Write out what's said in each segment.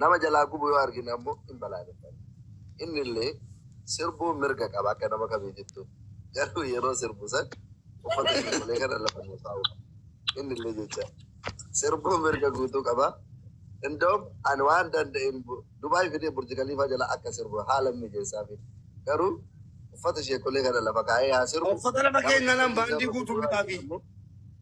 Nama jalaa gubu yoo argine ammoo hin balaaleffanna. Innillee sirbuu mirga qaba akka nama kamiitittu. Garuu yeroo sirbu san uffata sirbulee kana lafa nuu kaa'uu qaba. Innillee jecha sirbuu mirga guutuu qaba. Indoom ani waan danda'een Dubaay fidee Burji Kaliifaa jala akka sirbu haalan mijeessaafi. Garuu uffata sheekolee kana lafa kaa'ee haa sirbu. Uffata lafa keenyaa naan baandii guutuun bitaafi.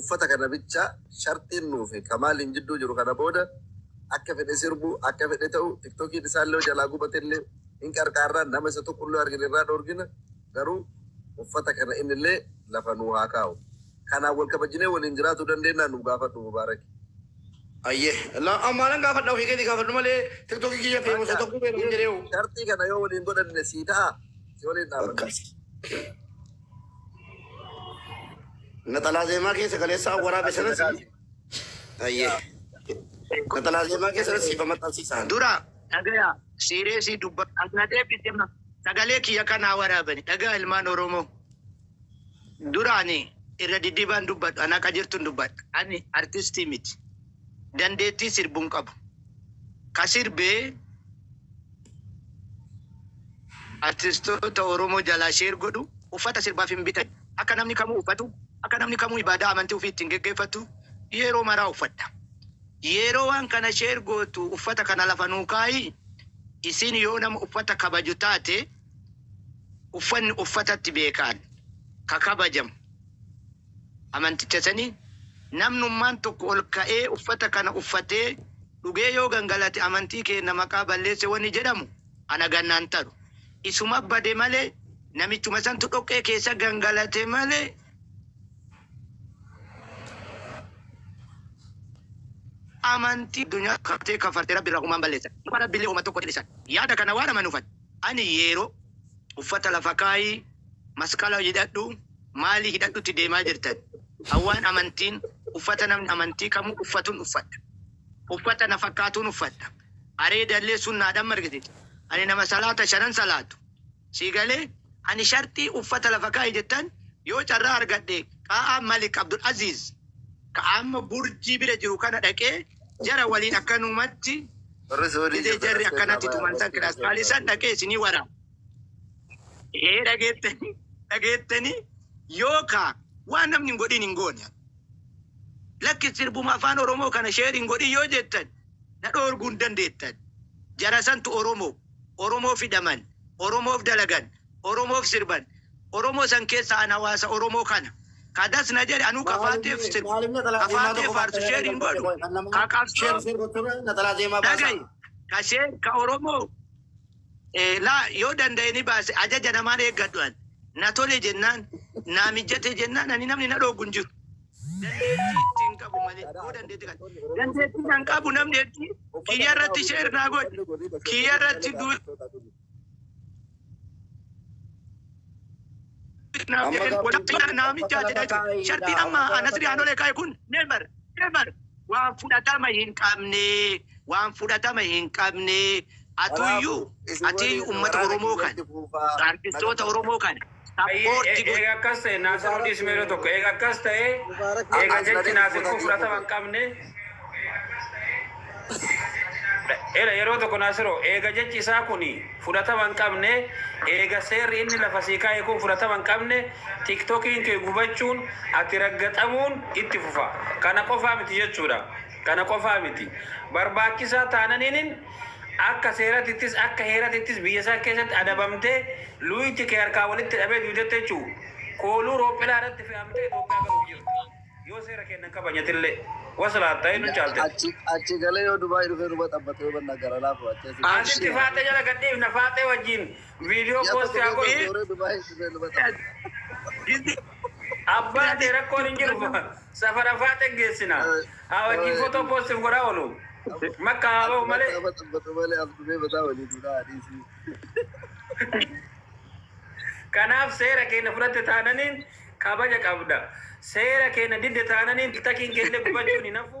Uffata kana bicha sharxiin nuufi kamaaliin jidduu jiru kana booda akka fedhe sirbu akka fedhe ta'u tiktokiin isaallee yoo jalaa gubatellee hin qarqaarra nama isa tuqullee yoo argine irraa dhoorgina garuu uffata kana innillee lafa nuu haa kaa'u kanaan wal kabajinee waliin jiraatuu dandeennaa nuu gaafadhu mubaaraki. Hayyee la an maalan gaafadha ofii keetii gaafadhu malee tiktoki kiyya feemusa Bakka tokko beekan jedhee hoo. sharxii kana yoo waliin godhanne sii ta'aa si waliin dhaabanna. Akkas. Naxalaa zeemaa keessa kaleessaa waraabe sanas ayyee. Naxalaa zeemaa keessa sanas siifa maxxansiisaan. Dura dhagaya siireesii dubba na deebite ma sagalee kiyya kanaa waraabani dhagaa ilmaan Oromoo. Duraani irra diddibaan dubbadhu anaa qajeeltuun dubbadha. Ani artistii miti. Dandeettii sirbuun qabu. Ka sirbee Artistoota Oromoo jalaa share godhu Uffata sirbaaf hin bitan Akka namni kamuu uffatu Akka namni kamuu ibaadaa amantii ufii ittiin geggeeffattu Yeroo maraa uffadha Yeroo waan kana share gootu uffata kana lafa nuu kaayi Isiin yoo nama uffata kabaju taate Uffanni uffatatti beekaan ka kabajamu amanticha sanii, namnummaan tokko ol ka'ee uffata kana uffatee dhugee yoo gangalate amantii keenna maqaa balleesse wani jedhamu ana ganna hin taru. Isuma bade malee namichuma santu dhoqqee keessa gangalate malee. Amantii addunyaa kaftee kafarte Rabbi irraa humaan balleessan. Nama Rabbillee homa tokko hin dhisan. Yaada kana waan amanuufan. Ani yeero uffata lafa kaayi masqala hidhadhu maali hidhadhutti deemaa jirtan hawwaan amantiin uffata namni amantii kamuu uffatun uffadha uffata na fakkaatuun uffadha areeda illee sunnaadhan margititi ani nama salaata shanan salaatu sii galee ani sharxii uffata lafa kaayi jettan yoo carraa argadhe qaa'aa malik abdul aziiz ka amma burjii bira jiru kana dhaqee jara waliin akkanumatti jedhee jarri akkanatti tuman san kiraastaalii san dhaqee isinii waraana. Ee dhageettanii dhageettanii yookaa waan namni hin godhin hin goone. Lakki sirbuma afaan Oromoo kana sheer hin godhin yoo jettan na dhoorguu hin dandeettan. Jara santu Oromoo. Oromoof hidhaman. Oromoof dalagan. Oromoof sirban. Oromoo san keessaa an hawaasa Oromoo kana. Ka das na jedhe anuu ka Faaxeef sirbu, ka Faaxee faarsu share hin godhu, ka qabsoo dhagayi, ka share, ka Oromoo eh, laa yoo danda'e ni baase ajaja namaan eeggadhu an. Na tole jennaan, naa mijjate jennaan ani namni na dhooggu hin jiru. Dandeettii ittiin qabu malee yoo dandeetti kan. Dandeettii kan qabu namni hedduu kiyya irratti share naa godhi, kiyya irratti du Amma gaaffiin kun naamicha bakka lafa jedhee kaa'e ture. Shartiin dha. amma Bakka lafa Nasri kaa'e. Haanolee kaa'e kun never never waan fudhatama hin qabne waan fudhatama hin qabne atuyyuu Kanaafuu isin ati waliin uummata waraana Oromoo kan kiyyatti fuufaa. artistoota Oromoo kan Ayyee eega akkas ta'e Naasir nu dhiisi mee yeroo tokko eega akkas ta'e eega jechi Naasir kun fudhatama hin qabne Ela yeroo tokko Naasiro eega jechi isaa kun fudhatama hin qabne eega seerri inni lafa sii kaa'e kun fudhatama hin qabne tiktokiin kee gubachuun ati raggaxamuun itti fufa kana qofaa miti jechuudha kana qofaa miti barbaachisaa taananiinin Akka seeratittis akka heeratittis biyya isaa keessatti adabamtee luuyti kee harkaa walitti dhabee duutetti jechuu. Kooluu roophilaa irratti fe'amtee Itoophiyaa galuuf jirta. Yoo seera keenna hin kabajatillee. Waslaatta hedduu caaltee. Achi achi galee yoo Dubai dhufee nu baxabbate yoo banna gara laafu achi asi As itti faaxee jala gad dhiifna. Faaxee wajjin video post haa godhu. Yoo Dubai dhufee nu baxabbate. Abbaa kee rakkoon hin jiru safara faaxe geessina haa wajjin footoo poostif godhaa oolu makka haa ba'u malee Abba xabbatu malee abdumee bataa walii duudhaa adiisii. kanaaf seera keenya fudhatte taananiin kabaja qabda seera keenya didde taananiin takiin keellee gubachuun hin hafu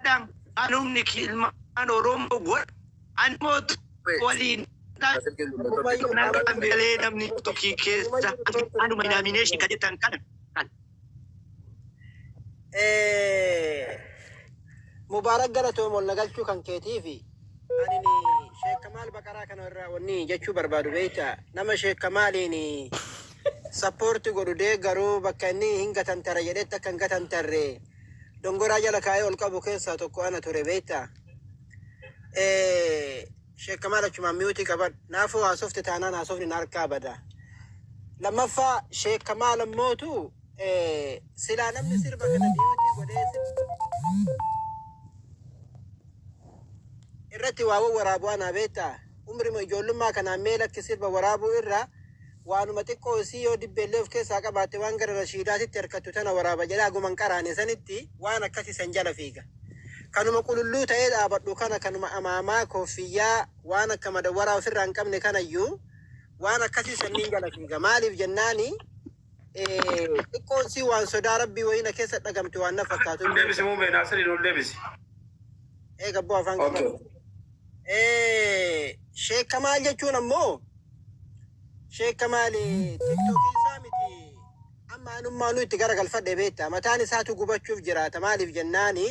Adam anumni ki ilmaan Oromoo godha ani mootu waliin galee namni tokkii keessa anuma inaamineeshin ka jettan kana kan Mubaarak galatoom ol nagalchuu kan keetii fi anini Sheekh Kamaal Baqaraa kana irraa wanni jechuu barbaadu beekta nama Sheekh Kamaaliin sappoorti godhu deeggaru bakka inni hin gatantara jedhetti akka hin gatantarre dongoraa jala kaa'ee ol qabu keessaa tokko ana ture beektaa. Eh, Sheekh Kamaal achumaan miyuutii qabadhu. Naafuu haasofte taanaan haasofni na harkaa bada. Lammaffaa Sheekh Kamaal ammootu eh, silaa namni sirba kana miyuutii godhee sirba irratti waa waraabuu anaa beektaa. Umrima ijoollummaa kanaan mee lakki sirba waraabuu irraa Waanuma xiqqoo isii yoo dibbeellee of keessaa qabaatte waan gara Rashiidaatitti erkattu tana waraaba jedhee haguma hin qaraane sanitti waan akkasii san jala fiiga. Kanuma qululluu ta'ee dhaabadhu kana kanuma amaamaa, kooffiyyaa, waan akka madawwaraa ofirraa hin qabne kanayyuu waan akkasii sanniin jala fiiga. Maaliif jennaani xiqqoon isii waan sodaa Rabbii wayii na keessa dhagamte waan na fakkaatu hin Deebisi beekta. muumee naasiriin ol deebisi. Eega abboo afaan Okay. qabadhu. Sheek Kamaal jechuun ammoo Sheek Kamaal tiktookii isaa miti amma anummaa nu itti garagalfadhe beekta mataan isaatu gubachuuf jiraata maaliif jennaani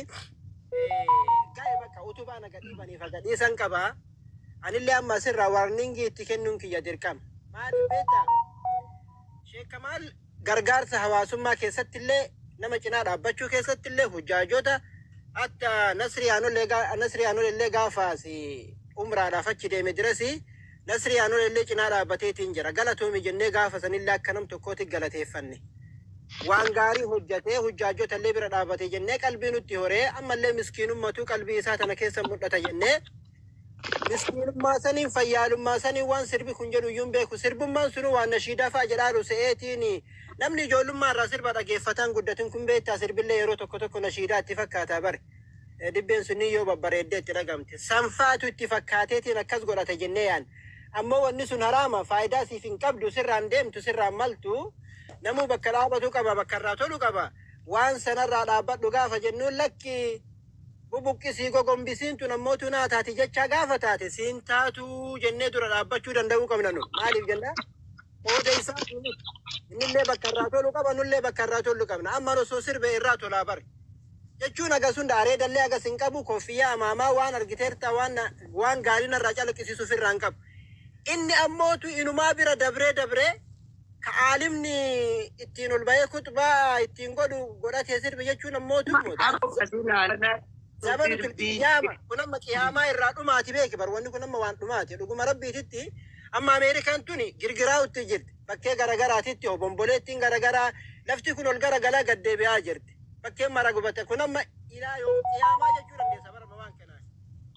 ga'e bakka utubaa na gadhiibaniif agadhiisan qaba anillee amma asirraa warningii itti kennuun kiyya dirqama maaliif beekta Sheek Kamaal Gargaarsa hawaasummaa keessatti illee nama cinaa dhaabbachuu keessatti illee hujjaajota akka Nasrii Aanollee gaa- Nasrii Aanollee illee gaafa asi umraadhaaf achi deeme dirasi Nasrii Aanollee illee cinaa dhaabbateetiin jira galatoomi jennee gaafa sanillee akka nam tokkooti galateeffanne. waan gaarii hojjatee hujjaajota illee bira dhaabate jennee qalbii nutti horee ammallee miskiinummatuu qalbii isaa tana keessa mul'ata jennee Miskiinummaa saniin fayyaalummaa saniin waan sirbi kun jedhu iyyuu hin beeku. Sirbummaan sunuu waan nashiidaa fa'a jedhaaru se'eetiin namni ijoollummaa irraa sirba dhageeffataan guddatin kun beektaa sirbillee yeroo tokko tokko nashiidaa itti fakkaataa bare. Eh, Dibbeen sunniin yoo babbareeddee itti dhagamte. Sanfaatu itti fakkaateetiin akkas godhata jennee yaan. Ammoo wanni sun haraama faayidaa siif hin qabdu sirraan deemtu sirraan maltu namuu bakka dhaabatu qaba bakka irraa tolu qaba. Waan sanarraa dhaabbadhu gaafa jennuun lakki Bubuqqi sii gogombi siin tun ammoo tunaa taati jechaa gaafa taate siin taatuu jennee dura dhaabbachuu danda'uu qabna nu. Maaliif jennaan qooda isaa fi miti. Innillee bakka irraa tolu qaba nullee bakka irraa tollu qabna. Amman osoo sirbe irraa tolaa bar. Jechuun hagas hunda areedallee hagas hin qabu koffiyyaa amaamaa waan argiteerta waan na- waan gaarii narraa calaqqisiisu ofirraa hin qabu. Inni ammootu inumaa bira dabree dabree ka aalimni ittiin ol ba'ee kutbaa ittiin godhu godhatee sirbi jechuun ammoo tuqmoota. Zabanu qiyaama kun amma qiyaamaa irraa dhumaati beeki bar wanni kun amma waan dhumaati dhuguma rabbiititti amma Ameerikaan tuni girgiraa utti jirti bakkee garagaraatitti obomboleettiin garagaraa lafti kun ol garagalaa gad deebi'aa jirti bakkeen mara gubate kun amma ilaa yoo qiyaamaa jechuu dandeessa bara waan kanaa.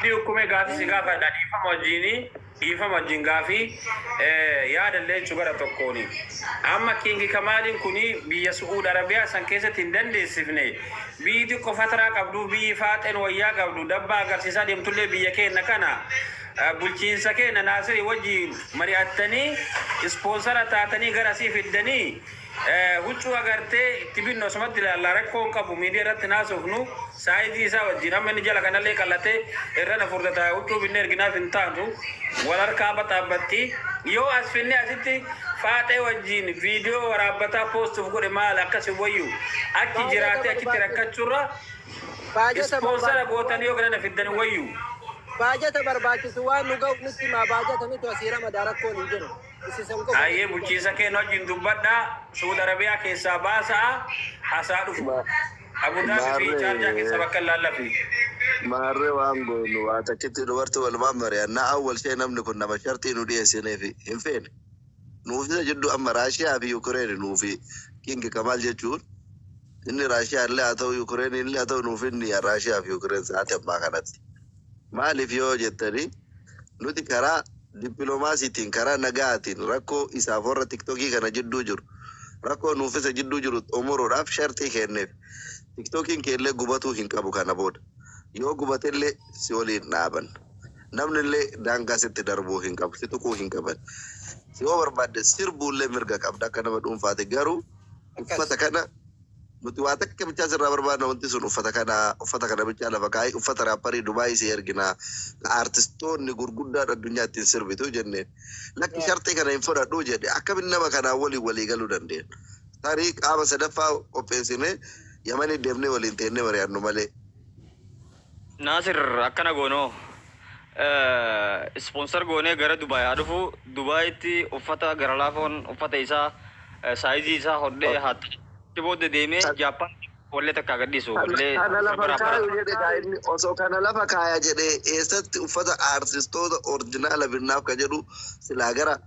Abdii ukkumee gaafii si gaafadha dhiifama wajjiini dhiifama wajjiin gaafii yaada illee jechu gara tokkooni amma king kamaaliin kuni biyya su'uud arabiyaa san keessatti hin dandeessifne biyyi xiqqo fataraa qabduuf biyyi faaxeen wayyaa qabdu dabbaa agarsiisaa deemtullee biyya keenna kana bulchiinsa keenna naasirii wajjiin mari'attanii ispoonsara taatanii gara asii fiddanii Huccuu agartee itti binnu asumatti ilaalla rakkoo hin qabu miidiya irratti hin haasofnu saayizii isaa wajjin amma inni jala kanallee qal'ate irrana furda ta'a huccuu binnee erginaaf hin taatu wal harkaa baxaabaxxi yoo as finnee asitti faaxee wajjin viidiyoo waraabbataa poostuuf godhe maal akkas hin wayyu achi jiraatee achitti rakkachurra ispoonsara gootanii yoo kanana fiddan hin wayyu. Baajata barbaachisu waan nu ga'uuf nutti himaa baajata nutu asii ramadaa rakkoon hin jiru. Hayyee bulchiinsa keen wajjin dubbadhaa Suud Arabiyaa keessaa baasa'a asaa dhufu. Abu Dhabi fi Charja keessa bakka hin laallafne. Maarree waan goonu waa takkitti dumarti walumaan mari'anna Awwal Shee namni kun nama sharxii nu dhiyeessineefi hin feene. Nuuf isa jidduu amma Raashiyaa fi Yukireeni nuufi King Kamaal jechuun inni Raashiyaa illee haa ta'uu Yukireeni illee haa ta'uu nuuf inni Raashiyaa fi Yukireen sa'aati ammaa kanatti. Maaliif yoo jettani nuti karaa dippilomaasiitiin karaa nagaatiin rakkoo isaaf warra tiktokii kana jidduu jiru rakkoo nuuf isa jidduu jiru xumuruudhaaf sharxii keenneef. Tiktokiin keellee gubatuu hin qabu kana booda. Yoo gubatellee si waliin dhaabanna. Namnillee daangaa sitti darbuu hin qabu. Si tuquu hin qaban. Yoo barbaadde sirbuullee mirga qabda akka nama dhuunfaati garuu uffata kana Nuti waa takka bichaa sirraa barbaadna wanti sun uffata kana uffata kana bichaa lafa kaa'i uffata raapparii Dubaayii sii ergina ka aartistoonni gurguddaan addunyaa ittiin sirbitu jenneen. Lakki sharxii kana hin fudhadhu jedhe. Akkamitti nama kanaan waliin walii galuu dandeenya? Tarii qaama sadaffaa qopheessinee Yamanii deemnee waliin teennee mari'annu malee. Naasir akkana goonoo sponsor goonee gara Dubai haa dhufuu Dubaitti uffata gara laafoon uffata isaa saayizii isaa hodhee haa ta'u achi booda deemee Japan wallee takkaa gad dhiisu wallee Kana lafa bara bara kaayu jedhe kaa inni osoo kana lafa kaaya jedhe eessatti uffata aartistoota orjinaala binnaaf ka jedhu silaa gara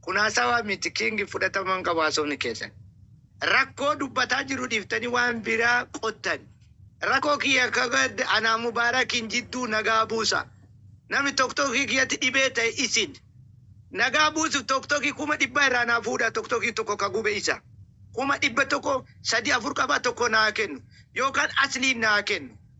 Kun hasawa miti king fudhatama hin qabu hasofni keessan. Rakkoo dubbataa jiru dhiftanii waan biraa qottan. Rakoo kiyya ka gadda anaa mubarakin jidduu nagaa buusa. Namni toktoki kiyyatti dhibee ta'e isin. Nagaa buusuf toktoki kuma dhibba irraa naa fuudha toktoki tokko ka gube isa. Kuma dhibba tokko sadii afur qaba tokko naa kennu. Yookaan asliin naa kennu.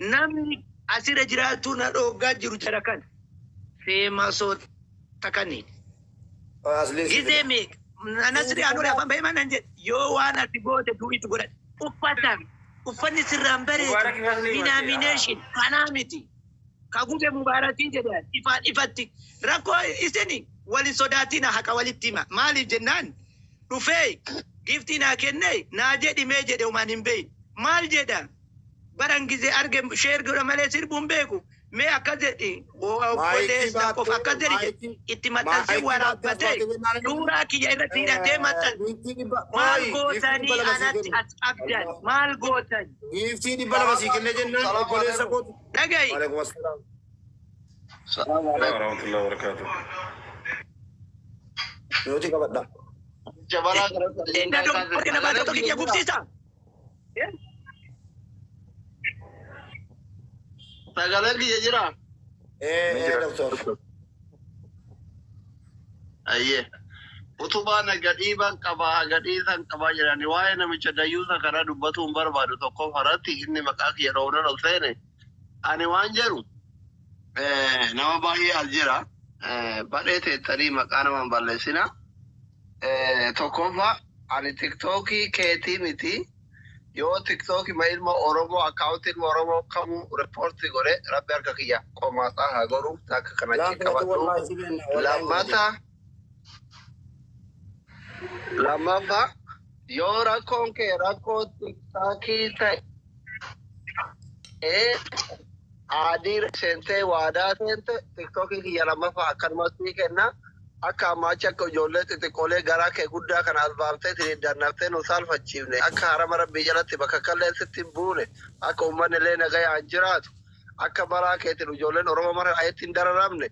Namni asira jiraachuu na dhooggaa jiru jara kana. Feemasoota kanneen. Asliin si Gizee fida. meeqa? Nasri Anwar afaan bahee manan jedhe yoo waan ati goote du'u itti godhadhe. Uffata uffanni sirraan bareedu Mubaarak ifaan ni denomination kanaa miti. Ka gube Mubaarakii jedhe ifaan ifatti. Rakkoo isin wal hin sodaatina haqa walitti hima. Maaliif jennaan dhufee giiftii naa kennee naa jedhi mee jedhe homaan hin beeyne maal jedha baran gizee arge sheer godha malee sirbuu hin beeku mee akkas jedhi o- obboleessa qof akkas jedhi jedhe itti maxxansee waraabbatee suuraa kiyya irratti hidhatee maxxanse maal gootanii anatti as qabdan maal gootan Giiftii dhibba lama sii kennee jennaan obboleessa kootu. dhaga'i Waalaikum assalam. Salaam Waalaikum alaikum. warahmatullahi wabarakatuh. Nuti qabadha. Jabaraa gara Illee na dhoofne warri na baatota kiyya gubsiisa. Sagalee kiyya jira. Eh, Ni eh, jira. doktor. Ayyee. Utubaa na gadhiiban qaba, gadhiisan qaba jedhani waa'ee namicha dayyuusa kana dubbatuun barbaadu tokko faratti inni maqaa kiyya dhoofnan ol seene. Ani waan jedhu eh, nama baay'ee as jira. Eh, Badhee teettanii maqaa nama hin balleessina. Eh, Tokkoffaa ani tiktookii keetii miti. Yoo tiktookii ma ilma Oromoo akkaawunti ilma Oromoo kamuu riippoortii godhe rabbi harka kiyya qomaasaa haa godhu takka kana Laa achi filatu qabadhu. wallaahi si kenna wallaahi hin godhin. Lammata Lammaffaa yoo rakkoon kee rakkoo tiktaakii ta'ee aadii seentee waadaa seente tiktookii kiyya lammaffaa akkanumatti ni kenna. Akka ammaa achi akka ijoollee xixiqqoolee garaa kee guddaa kana as baaftee ittiin dannaftee nu saalfachiifne akka harama rabbii jalatti bakka kallee sitti hin buune akka uummanni illee nagayaan jiraatu akka baraa keetiin ijoolleen Oromoo mara ayetti hin dararamne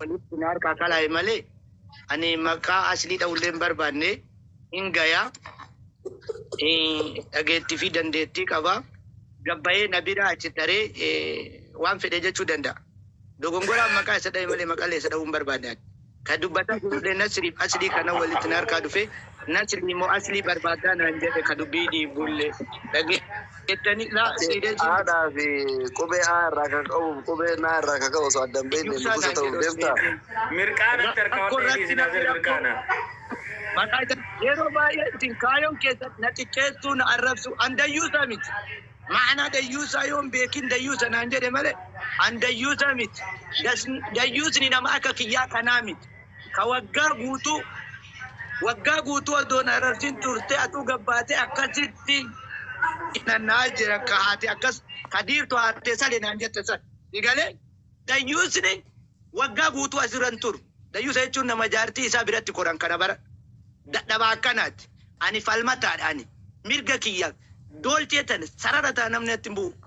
Walitti na harkaa kalaa'e malee ani maqaa aslii dha'ullee hin barbaanne. Hin gaya. Dhageettii fi dandeettii qaba. Gabbayee na bira achi taree waan fedhe jechuu danda'a. Dogongoraan maqaa isa dha'e malee maqalee isa dha'uu hin barbaanne ani. Ka dubbataa jirullee Nasriif aslii kana walitti na harkaa dhufee Nasrii moo Aslii barbaaddaa naan jedhe ka dubbii dhiibbulle. Dhageettanii laa sii dee jiin. Haadhaa fi qubee A irraa ka ka'uu fi qubee N irraa ka ka'u osoo adda hin beekne Iyyuusaa nugusa naan ta'uuf jedhe osoo hin deemtaa? beekin. Mirqaanatti Rakkoo harkawwadhu irratti eegiisi namni Naasir rakkoo Mirqaanaa. maqaa isa yeroo baay'ee isin kaayoon keessan na xiqqeessuu na arrabsuu an dayyuusa miti ma'anaa dayyuusaa yoo hin beekin dayyuusa naan jedhe malee an dayyuusa miti Das dayyuusni nama akka kiyyaa kanaa miti. Ka waggaa guutuu Waggaa guutuu odoo na ararsin turtee atuu gabbaatee akkasitti hinanna'aa jira ka haati akkas ka diirtu haatee sale naan jette san si galee dayyuusni waggaa guutuu asirra hin turu dayyuusa jechuun nama jaartii isaa biratti koran kana bara dadhabaa akkanaati ani falmataadha ani mirga kiyyaaf doolchee tana sarara ta'a namni natti hin bu'u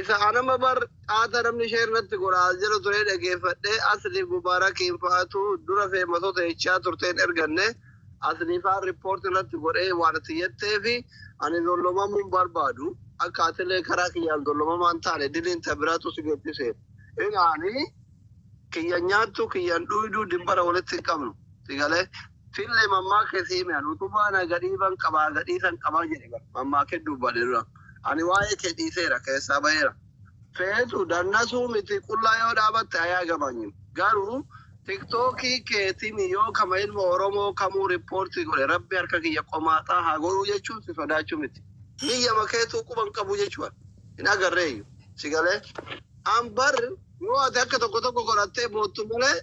Isa anama bar qaata namni share natti godha as jedhu turee dhageeffadhe asli gubarakiin fa'atu dura feemasota jechaa turteen erganne asli faan report irratti godhee waan itti jetteefi ani zollomamuun barbaadu akka atilee karaa kiyyaan zollomamaan taane diliin ta biraatu si geessise ilaani kiyya nyaattu kiyyan dhuyduu dimbara walitti hin qabnu sigalee Fille mammaakhe sii me an utubaa na gadhiiban qabaa gadhiisan qabaa jedhe bar mammaakhee dubbane dura ani waa'ee kee dhiiseera keessaa baheera. Feetu dannasuu miti qullaa yoo dhaabatte ayaagabanyim garuu tiktookii keetini yoo kama ilma oromoo kamuu rippoortii godhe rabbi harka kiyya qomaaxaa haa godhuu jechuun si sodaachuu miti biyyama keetuu quba hin qabuu jechuu an hin agarreeyyu si galee an bar yoo ati akka tokko tokko godhattee boottu malee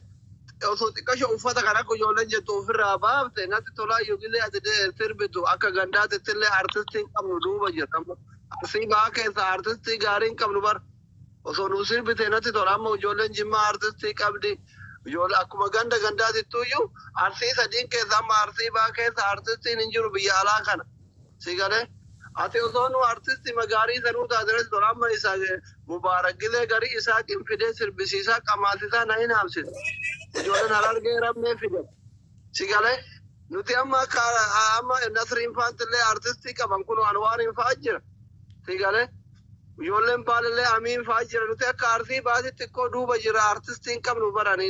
Osoo xiqqasho uffata kana akka ijoolleen jettu ofirraa baafte natti tolaa yogilee ati de sirbitu akka gandaatittillee artistii hin qabnu duuba jirra amma arsii bahaa keessaa artistii gaarii hin qabnu bar osoo nuu sirbite natti tola amma ijoolleen jimmaa artistii qabdi ijoollee akkuma ganda gandaatittuyyuu arsii sadiin keessa amma arsii bahaa keessa artistiin hin jiru biyya alaa kana Si galee? Ati osoo nuu artistima gaarii sanuu taate res bar amma isa Mubaarak Gilee garii Isaaqin fidee sirbisiisaa qamaasisaa na hin haamsin. Ijoolleen Harargee rammee fide. Si galee? Nuti amma akka amma Nasriin faantillee artistii qaban kunoo Anwaariin fa'aa jira. Si galee? Ijoolleen baalillee Amiin fa'aa jira. Nuti akka Arsii baasii xiqqoo duuba jira artistii hin qabnu barani.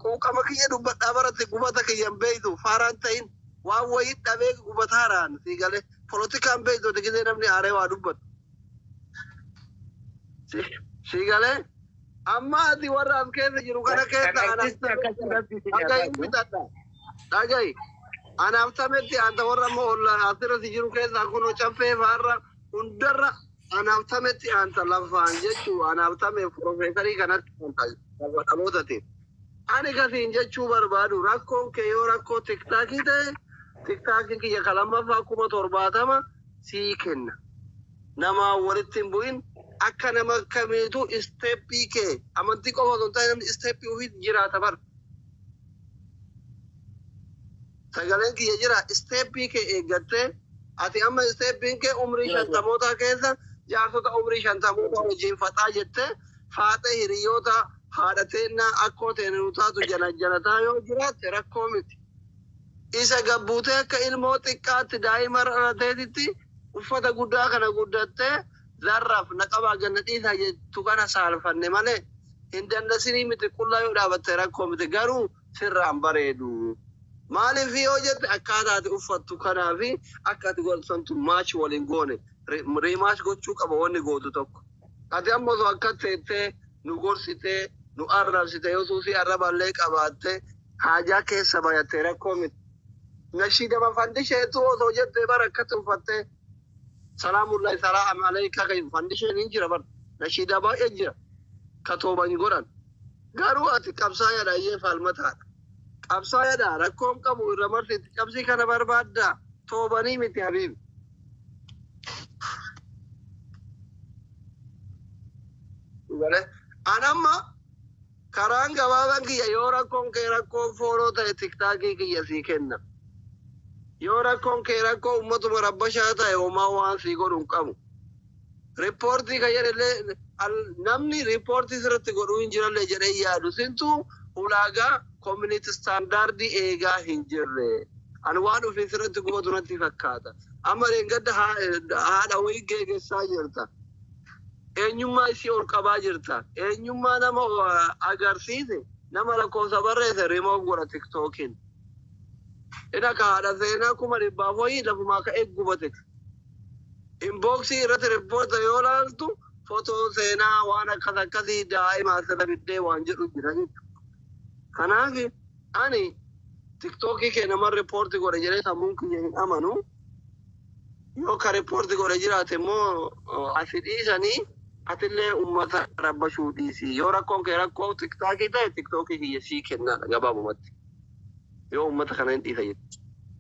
Quuqama kiyya dubbadhaa baratti gubata kiyya hin beeytu faaraan ta'in. Waan wayii dhabee gubataara an sii galee. Polotikaan beektu ati gizee namni aaree waa dubbatu. Si- Sii galee amma ati warra as keessa jiru kana keessa an Artisti akkamii akkasii jira? rabbii si Dhagahi hin nyaataatu. bitadha. Dhagahi. An haftametti anta warra amma olla asirratti jiru keessaa kun caffee faarra hundarra an haftametti anta lafaan jechuu an haftameef profeesarii kanatti anta lafa dhalootatiin. Ani ka siin jechuu barbaadu rakkoon kee yoo rakkoo tiktakii ta'e tiktakin kiyya ka lammaffaa 70,000 sii kenna namaan walitti hin bu'in akka nama kamiitu step kee amantii qofa osoo hin taane namni step ufiit jiraata bar sagaleen kiyya jira step kee eeggattee ati amma step kee umrii shantamootaa keessa jaarsota umrii shantamootaa wajjiin faxaa jettee faaxee hiriyyoota haadha teennaa akkoo teena nu taatu janajanataa yoo jiraatte rakkoo miti. Isa gabbuutee akka ilmoo xiqqaatti daa'ima dhalateetitti uffata guddaa kana guddattee zarraf na qabaa ganna dhiisaa jettu kana saalfanne malee hin dandasinii miti qullaa yoo dhaabatte rakkoo miti garuu sirraan bareedu. Maaliif yoo jette akkaataa ati uffattu kanaa fi akka ati godhattu santu match wal hin goone rematch gochuu qaba wanni gootu tokko. Ati amma osoo akkas teettee nu gorsitee, nu arrabsite, yoo suusii arraballee qabaattee haajaa keessa bayatte rakkoo miti. Nashiidama fandisheetu osoo jettee bar akkatti uffattee salaamullahi salaam aleeyka kan fandisheen hin jira bar nashiidaa baay'ee jira ka tooba hin godhan. Garuu ati qabsaayaadha ayyee faalmataadha. Qabsaayaadha rakkoon qabu irra marsi itti cabsii kana barbaadda toobanii miti habiibi. An amma karaan gabaabaan kiyya yoo rakkoon kee rakkoo fooloo ta'e tiktaakii kiyya sii kenna. Yoo rakkoon kee rakkoo ummatuma rabbashaa ta'e homaa waan sii godhu hin qabu. Ripoortii ka jedhellee namni ripoortii sirratti godhuu hin jirallee jedhee hin yaadu. Sintu ulaagaa community standard eegaa hin jirre. Ani waan ofiin sirratti gootu natti fakkaata. Amma dheengadda haadha wayii geegessaa jirta. Eenyummaa isii ol qabaa jirta. Eenyummaa nama agarsiise nama lakkoofsa barreesse remove godha tiktookiin. Ina ka haadha seenaa kuma dhibbaaf wayii lafumaa ka'ee gubate. Inbox irrati reporta yoo laaltu photo seenaa waan akkas akkasii daa'ima asirra fiddee waan jedhu jira jechuudha. Kanaaf ani tiktookii kee nama reporti godhe jedhee sammuun kiyya hin amanu. Yoo ka reporti godhe jiraate immoo asi dhiisanii atillee uummata rabbashuu dhiisi. Yoo rakkoon kee rakkoo tiktaakii ta'e tiktookii kiyya sii kennaadha gabaabumatti. Yoo uummata kana hin dhiisa jechuudha.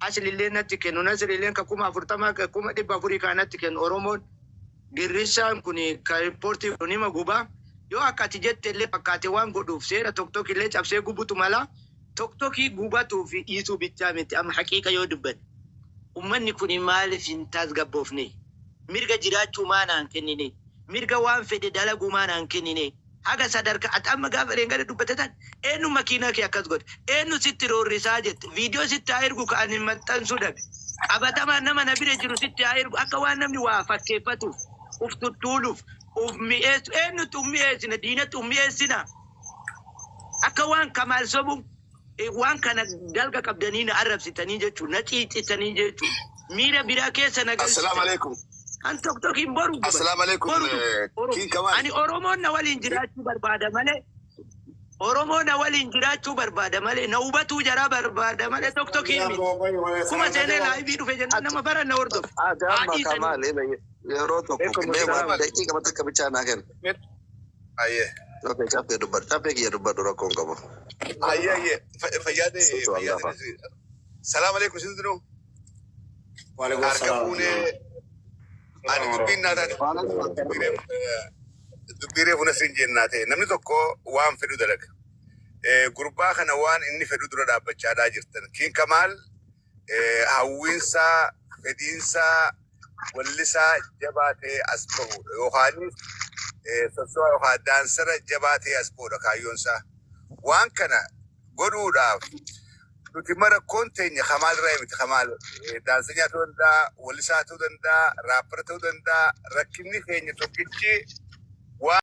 Asliilleen natti kennu. Nasriilleen ka kuma afurtama ka kuma dhibba afurii kaa natti kennu. Oromoon girrissaan kun ka riippoortii godhu nima guba. Yoo akka ati jette illee fakkaate waan godhuuf seera Toktok illee cabsee gubutu mala. Toktokii gubatuu fi dhiisuu bichaa miti amma haqiiqa yoo dubbanne. Ummanni kun maaliif hin taasgabboofnee? Mirga jiraachuu maa naan kenninee? Mirga waan fedhe dalaguu maa naan kenninee? Haga sadarka ati amma gaafa dheengadda dubbatte tan eennu makiinaa kee akkas godhe? Eennu sitti roorrisaa jette? Viidiyoo sitti haa ergu ka ani maxxansuu dhabe. Qabatamaan nama na bira jiru sitti haa ergu akka waan namni waa fakkeeffatuuf, uf tuttuuluuf, uf mi'eessu. Eennutti uf mi'eessina? Diinatti uf mi'eessinaa? Akka waan Kamaal sobuun. Waan kana dalga qabdanii na arrabsitanii jechuun, na ciicitanii jechuun, miira biraa keessa na galchitan. Assalam alaikum. Kan tok tokiin boru gubate. Assalam alaikum. Boru tok. King Kamal. Ani Oromoon na waliin jiraachuu barbaada malee Oromoo na waliin jiraachuu barbaada malee na hubatuu jaraa barbaada malee tok tokii miti. Kuma seenee laayivii dhufe jennaan nama bara na hordofe. Adama Haadhii sanii. Kamal yeroo tokko Ekum mee waan Islam. daqiiqa takka bichaa naa kenna. Aye. Okay, caffee dubbadhu. Caffee kiyya dubbadhu rakkoo hin qabu. Aye aye. Fa- Fayyaa ta'e Socho'u fayyaa hangafa. ta'e si. Salaam alaikum isin dinu. Waalaikum Harka salaam. fuunee ani dubbiin naa taate. Waalaikum assalam. Dubbiiree dubbiiree fuuna siin jennaa ta'e namni tokko waan fedhu dalaga. Eh, Gurbaa kana waan inni fedhu dura dhaabbachaadhaa jirtan. Kiin Kamaal eh, hawwiinsaa, fedhiinsaa, wallisaa jabaa ta'ee as bahuudha. Yookaanis eh, soso'aa yookaan daansara jabaa ta'ee as bahuudha kaayyoonsaa. Waan kana godhuudhaaf nuti immoo rakkoon teenya kamaal irraa miti kamaal eh, daansanyaa ta'uu danda'a, wallisaa ta'uu danda'a, raappara ta'uu danda'a. Rakkinni keenya tokkichi waan